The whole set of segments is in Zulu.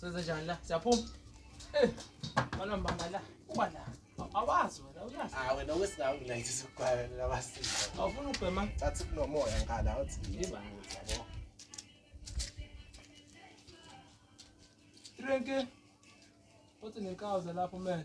Senze njani la? Siyaphuma. Eh. Bana mbanga la. Uba la. Awazi wena uyazi. Ah wena wesingawo ngilayithe sikugwala labasini. Awufuna ubhema? Athi kunomoya ngala uthi yiba yabo. Drink. Uthi nenkawu zalapho man.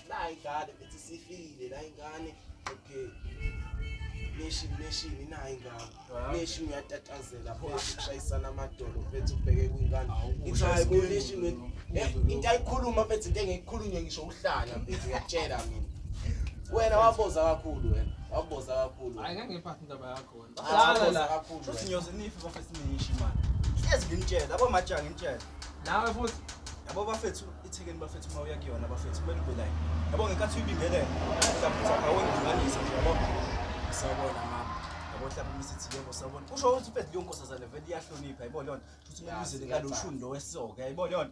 nayi ingane bethi sifikile la ingane okay neshi neshi nayi ingane neshi uyatatazela pho ushayisana amadolo bethi ubheke kwingane ithi hayi bo neshi eh, into ayikhuluma bethi into engiyikhulunywe ngisho uhlanya bethi uyatshela mina wena waboza kakhulu wena waboza kakhulu hayi ngeke ngiphathe indaba yakho Hlala la. Futhi ngiyoze nife bafethu niyishi manje. Hlezi nginitshela, yabo majanga nginitshela. Nawe futhi yabo bafethu ithekeni bafethu uma uya kuyona bafethu kumele ube nayo. Yabo ngenkathi uyibingelela, uyaphutha ngawe ngilinganisa nje yabo. Sawubona mama. Yabo hlaba umisithi yebo sawubona. Kusho ukuthi mfethu leyo nkosazane vele iyahlonipha yabo lona. Futhi umubizele ngalo shuni lo wesoka yabo lona.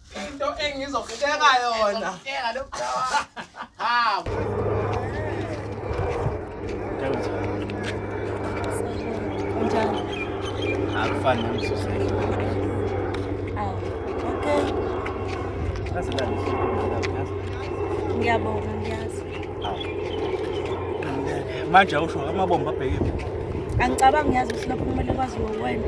into engizokuteka yona habo akufani nomsuzeli ngiyabonga ngiyazi manje awusho amabomba abhekile angicabangi ngiyazi ukuthi lokho kumele kwaziwe wena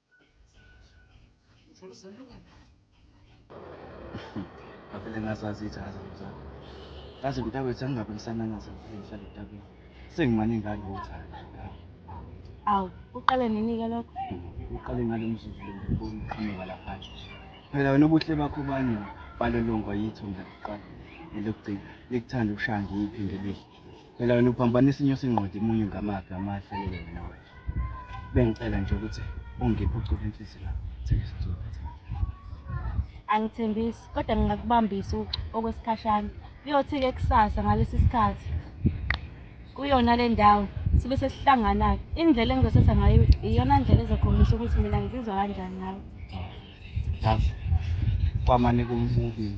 Ngavele ngazazi ijazi mzala. Yazi mntakwethu angingabe ngisanangaza ngivele ngihlale etabeni. Sengimane ngalo uthando. Awu, uqale nini-ke lokho? Uqale ngalo mzuzu lo ngikubona uqhamuka lapha. Phela wena ubuhle bakho bani balolongwa yitho mina kuqala. Elokugcina likuthanda ukushaya ngiyiphi ngebili. Phela wena uphambanisa inyosi ingqondi imunye ngamaphi amahle lelo wena wena. Bengicela nje ukuthi ungiphe uculo enhliziyo la. Thembisa uculo. Angithembisi kodwa ngingakubambisa okwesikhashana. Kuyothi-ke kusasa ngalesi sikhathi kuyona le ndawo sibe sesihlangana-ke. Indlela engizosetha ngayo iyona ndlela ezokhombisa ukuthi mina ngizizwa kanjani ngayo. Yazi kwamane kumubili.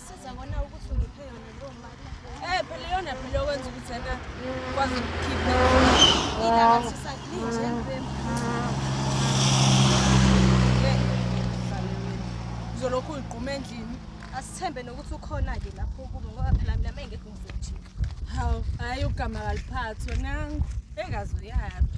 Sizabona ukuthi ungiphe yona leyo mali. Eh phela yona phela okwenza ukuthi yena kwazi ukukhipha. Indaba sisalinje empempe. Uzolokhu uyigquma endlini. Asithembe nokuthi ukhona ke lapho kubo ngoba phela mina mengekho ngizojika. Hawu, hayi ugama kaliphathwa nangu. Engazi uyaphi.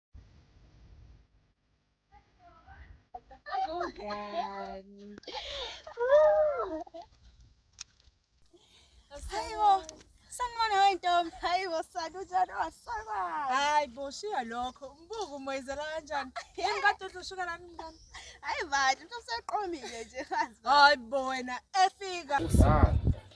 Ngani. Hayibo, sanibona wentombi. Hayibo sani unjani wasakwazi. Hayi bo shiya lokho. Umbuku umoyizela kanjani? Yini kade uthi ushuka lani mntana? Hayi bandla, umuntu useqomile nje kazi. Hayi bo wena efika. Usana.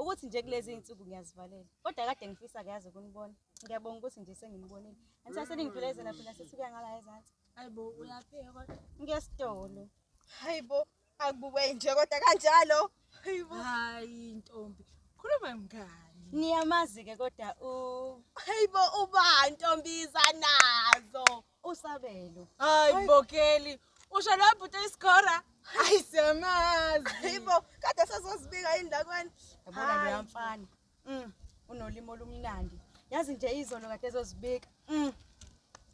ukuthi nje kulezi iy'nsuku ngiyazivalela kodwa kade ngifisa kuyazi ukunibona ngiyabonga ukuthi nje senginibonile angithi aseningidulezela phela sithi kuya ngala ezansi hayi bo uyapheka kodwa ngiyesitolo hayi bo akubuke nje kodwa kanjalo hayi bo hayi ntombi khuluma mngani niyamazi-ke kodwa u hayi bo uba ntombi izanazo Usabelo. Hayi Bokeli. Usho lo bhuti iskora. Hayi siyamazi. Yibo kade sazozibika indakweni. Yabona lo yamfana. Mm. Unolimo olumnandi. Yazi nje izolo kade ezozibika. Mm.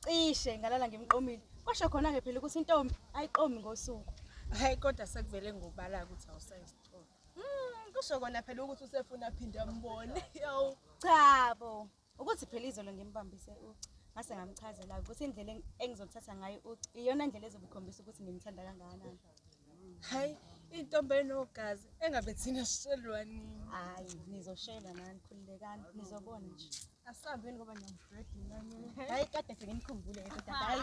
Cishe ngalala ngimqomile. Kwasho khona ke phela ukuthi intombi ayiqomi ngosuku. Hayi kodwa sekuvele ngobala ukuthi awusayisithola. Mm, kusho kona phela ukuthi usefuna aphinde ambone. Yawu. Cha bo. ukuthi phela izolo ngimbambise uci ngase ngamchazela ukuthi indlela engizothatha ngayo uci iyona ndlela ezobukhombisa ukuthi ngimthanda kangakanani hayi intombi enogazi engabe thina sishelwa nini hayi nizoshelwa nani khululekani nizobona nje asihambeni ngoba ngiyamdredinani hayi kade fike nikhumbule hayi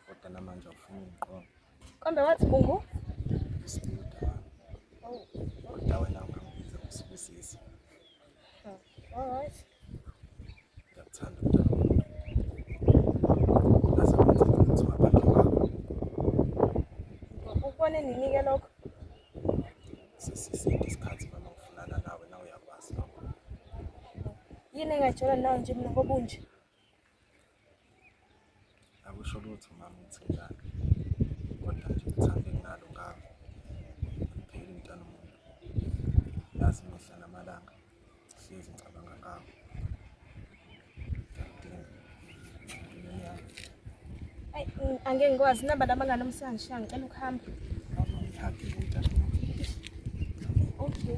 kodwa namanje awufuni ungiqonda kambe wathi bungu isibuda oh, kodwa wena ungangibiza ngosibusisi hmm, all right ngiyakuthanda umntana womuntu ngaze kwenza ukuthi wabakhe wakho ukubone ninike lokho sesiside isikhathi mama ngifunana nawe na uyakwazi lokho yini engajolo nawe nje mina ngoba unje akusho lutho mama ukuthi njani kodwa nje uthando enginalo ngakho ngipheli mntana umuntu yazi mihla namalanga sihlezi ngicabanga ngakho angeke ngikwazi naba laba ngalo msana sha ngicela ukuhamba okay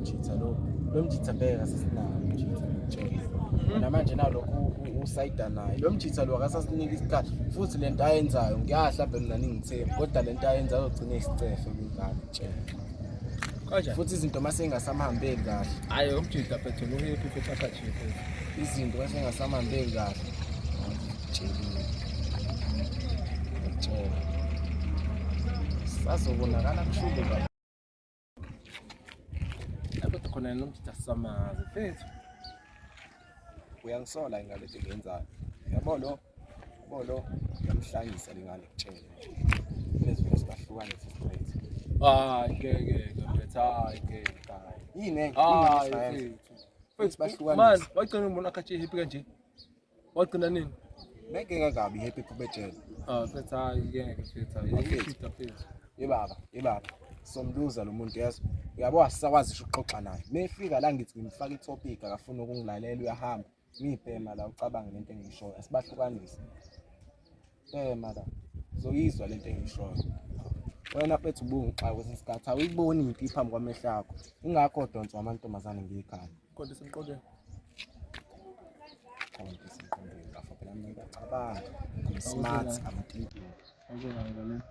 Mjitha lo. Lo mjitha bheka sasinawo mjitha. Namanje nawo lokhu usayida naye. Lo mjitha lo akasasinika isikhathi futhi lento ayenzayo ngiyahla bhe mina ningithembi kodwa lento ayenzayo ugcine isicefe kungani tshela. Kanjani? Futhi izinto mase ingasamhambeli kahle. Hayi umjitha phethe lo ngeke uphepha khathe. Izinto mase ingasamhambeli kahle. sazobonakala kushube baba kodwa khona nomjita samazi mfethu uyangisola ingane engiyenzayo yabo lo yabo lo uyamhlanyisa lengane kutshele lezi vesi bahlukane straight hayi ngeke mfethu hayi ngeke yini ngeke mfethu bahlukane manje wagcina umuntu akhathi happy kanje Wagcina nini? Ngeke ngakabi happy kubetshela. Ah, mfethu hayi ngeke mfethu. Ngifitha mfethu. Yebaba, yebaba. Somluza lo muntu yazi. Uyabo asisakwazi isho ukuxoxa naye. Mefika la ngithi ngimfaka itopic akafuni ukungilalela uyahamba. Ngibhema la ucabanga lento engiyishoyo. Asibahlukanise. Eh mara. Zoyizwa lento engishoyo. Wena bethu ubungixaka kwesinye isikhathi awuyiboni impi phambi kwamehlo akho. Ingakho donsa amantombazane ngiyikhaya. Kodwa simqokele. Kodwa simqokele. Ngafo phela mina ngiyacabanga. I'm smart, I'm thinking. Okay, ngangibona.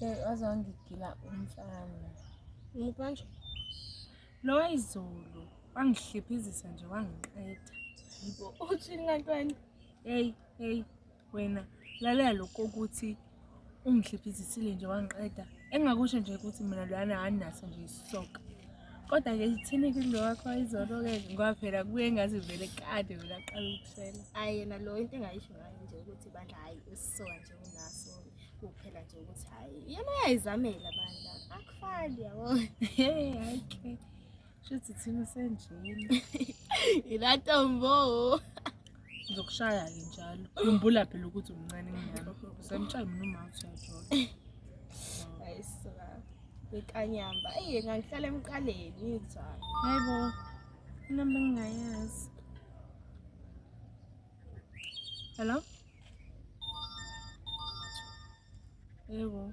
Hey, waze wangigila umfana. Ngikanje. Lo wayizolo wangihliphizisa nje wangiqeda. Yibo uthini kanti wena? Hey, hey wena lalela lokho ukuthi Ungihlephizisile nje wangiqeda. Engingakusho nje ukuthi mina loyana anginaso nje isisoka. Kodwa-ke ithini kulo wakho izolo-ke ngoba phela kuye ngazi vele kade wena aqala ukusela. Ayi yena lo into engayisho ngayo nje ukuthi bandla hhayi isisoka nje unaso kuphela nje ukuthi hhayi yena uyayizamela bandla akufani yabo. Hhayi ke. Shithi thina senjini. Ilatombo. Ngizokushaya ke njalo. Khumbula phela ukuthi umncane ngiyalo. Usemshaya mina uma usuyajola. Ayisa. Bekanyamba. Ey ngangihlala emqaleni ngizwa. Hayibo. Inamba ngingayazi. Hello? Yebo.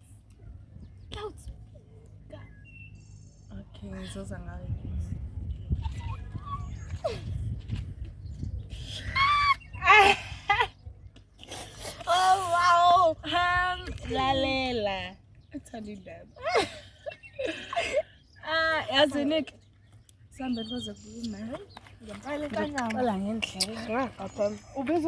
Ngizoza ngayo. Oh wow. Ham lalela. Uthanda indaba. Ah, yazi Nick. Sambe kuze kume. Ngempela kanyama. Ola ngendlela. Ngapha. Ubiza